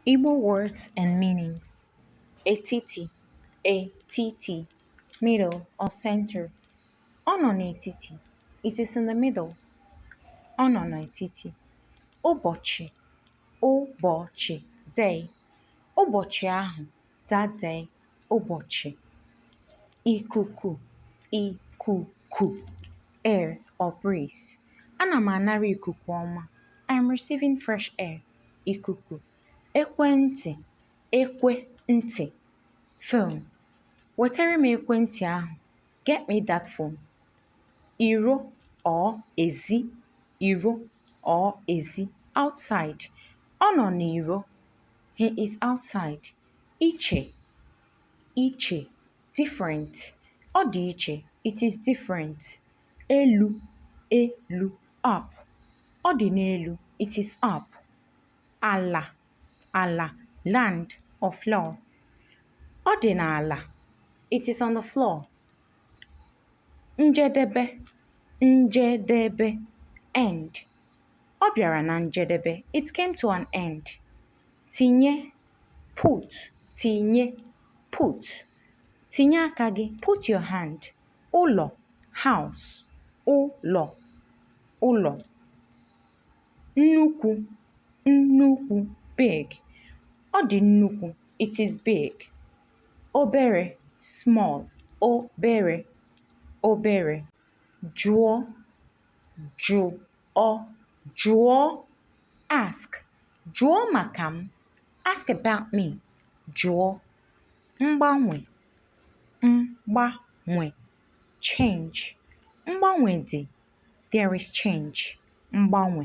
Igbo words and meanings. Etiti, etiti, middle or center. Ọ nọ n'etiti. It is in the middle. Ọ nọ n'etiti. Ụbọchị, ụbọchị, day. Ụbọchị ahụ. that day ụbọchị ikuku ikuku air or breeze ana m anara ikuku ọma I am receiving fresh air ikuku ekwentị ekwentị phone wetara m ekwentị ahụ get me that phone iro or ezi iro or ezi outside ọ nọ n'iro He is outside. Iche. Iche. Different. Ọ dị iche. It is different. Elu. Elu. Up. Ọ dị n'elu. It is up. Ala. Ala. Land or floor. Ọ dị n'ala. It is on the floor. Njedebe. Njedebe. End. ọ bịara na njedebe it came to an end tinye put tinye put tinye aka gị put your hand ụlọ house ụlọ ụlọ nnukwu nnukwu big ọ dị nnukwu it is big obere small obere obere jụọ jụọ jụọ ask jụọ maka m ask about me jụọ mgbanwe mgbanwe change mgbanwe dị there is change mgbanwe